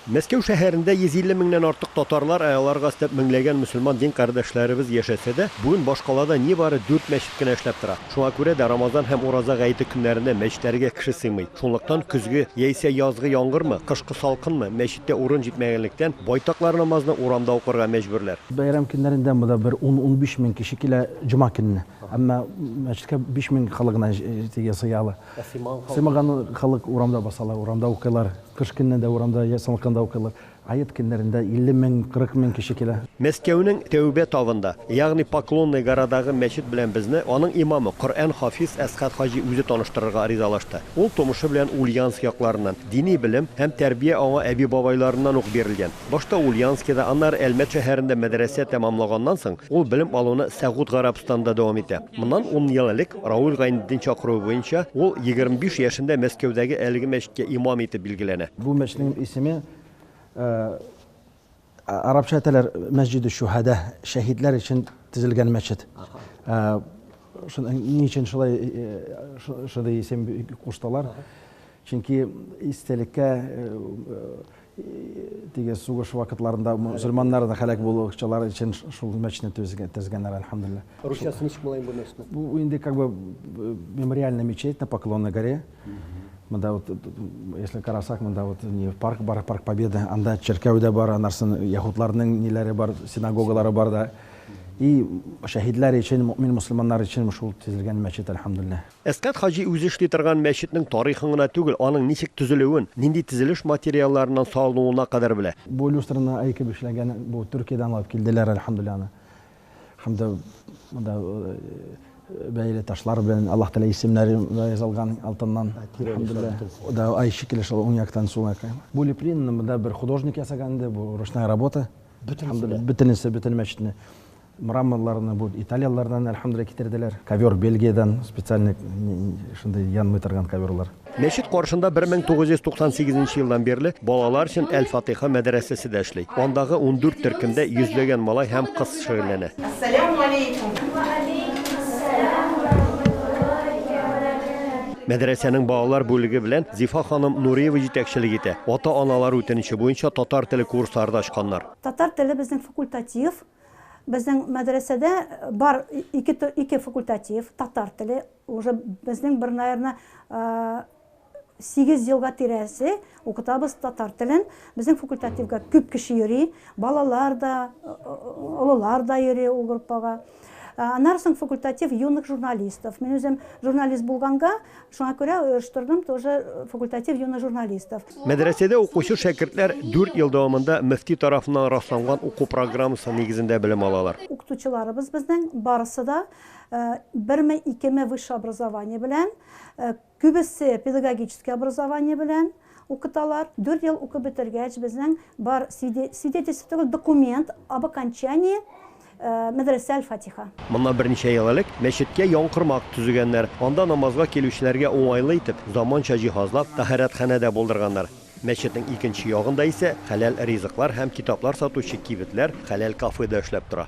Мәскәү шәһәрендә 150 меңнән артык татарлар, ә аларга өстәп меңләгән мөселман дин кардәшләребез яшәсә дә, бүген башкалада нибары дүрт мәчет кенә эшләп тора. Шуңа күрә дә Рамазан һәм Ураза гаете көннәрендә мәчетләргә кеше сыймый. Шунлыктан көзге, яисә язгы яңгырмы, кышкы салкынмы, мәчеттә урын җитмәгәнлектән, байтаклар намазны урамда укырга мәҗбүрләр. Бәйрәм көннәрендә монда бер ун-унбиш мең кеше килә, җома көнне. Әмма мәчеткә биш мең халык гына сыя ала. Сыймаган халык урамда басалар, урамда укыйлар. Кыш көнне дә урамда, я салкында укыйлар. Аэт көннәрендә 50 мең, 40 мең кеше килә. Мәскәүнең Тәүбә тавында, ягъни Поклонная горадагы мәчет белән безне аның имамы, Коръән хафиз Әсгать хаҗи үзе таныштырырга аризалашты. Ул тумышы белән Ульяновск якларыннан, дини белем һәм тәрбия аңа әби-бабайларыннан ук бирелгән. Башта Ульяновскида, аннары Әлмәт шәһәрендә мәдрәсә тәмамлаганнан соң, ул белем алуны Сәгуд Гарәбстанда дәвам итә. Моннан ун ел элек, Рауль Гайнетдин чакыруы буенча, ул егерме биш яшендә Мәскәүдәге әлеге мәчеткә имам итеп билгеләнә. Бу мәчетнең исеме арабча әйтәләр, Мәсҗидүш-Шүһәдә, шәһидләр өчен төзелгән мәчет. Ни өчен шулай исем куштылар? Чөнки истәлеккә теге сугыш вакытларында мөселманнар да һәлак булучылар өчен шул мәчетне төзегәннәр, әлхәмдулилла. Русчасы ничек була инде бу мәчетнең? Бу инде как бы мемориальный мечеть на Поклонной горе. Монда вот, если карасак, монда вот не парк бар, парк Победы, анда чиркәү дә бар, анарсын яһудларның ниләре бар, синагогалары бар да. И шәһидләр өчен, мөмин мөселманнар өчен шул төзелгән мәчет, әлхәмдулилла. Әсгать хаҗи үзе эшли торган мәчетнең тарихын гына түгел, аның ничек төзелүен, нинди төзелеш материалларыннан салынуына кадәр белә. Бу люстраны Айкиб эшләгән, бу Төркиядән алып килделәр, әлхәмдүлилләһ, аны. Һәм дә монда бәяле ташлар белән, Аллаһ Тәгалә исемнәре дә язылган алтыннан, әлхәмдүлилләһ. Ул ай шикелле шул уң яктан сул якка. Бу лепринаны монда бер художник ясаган иде, бу ручная работа. Бөтенесе? Бөтенесе, бөтен мәчетне. Мраморларны бу италияләрдән, әлхәмдүлилләһ, китерделәр. Ковер Бельгиядән, специальный шундый янмый торган коверлар. Мәчет каршында 1998 нче елдан бирле балалар өчен Әл-Фатыйха мәдрәсәсе дә эшли. Андагы ундүрт төркемдә йөзләгән малай һәм кыз шөгыльләнә. Мәдрәсәнең балалар бүлеге белән Зифа ханым Нуриева җитәкчелек итә. Ата-аналар үтенече буенча татар теле курслары да ачканнар. Татар теле безнең факультатив. Безнең мәдрәсәдә бар ике ике факультатив, татар теле, уже безнең бер наверное сигез елга тирәсе укытабыз татар телен. Безнең факультативга күп кеше йөри, балалар да, олылар да йөри ул группага. Аннары соң факультатив юных журналистов. Мин үзем журналист булганга, Шуңа күрә оештырдым тоже факультатив юных журналистов. Мәдрәсәдә укучы шәкертләр дүрт ел дәвамында мөфти тарафыннан расланган уку программасы нигезендә белем алалар. Укытучыларыбыз безнең барысы да берме, икеме высшее образование белән, күбесе педагогический образование белән укыталар. Дүрт ел укып бетергәч, безнең бар свидетельство түгел, документ об окончании Мәдрәсә Аль-Фатиха. Моннан берничә ел элек мәчеткә янкормак төзегәннәр. Анда намазга килүчеләргә уңайлы итеп, заманча җиһазлар, тәһарәтханә дә булдырганнар. Мәчетнең икенче ягында исә хәләл ризыклар һәм китаплар сатучы кибетләр, хәләл кафе да эшләп тора.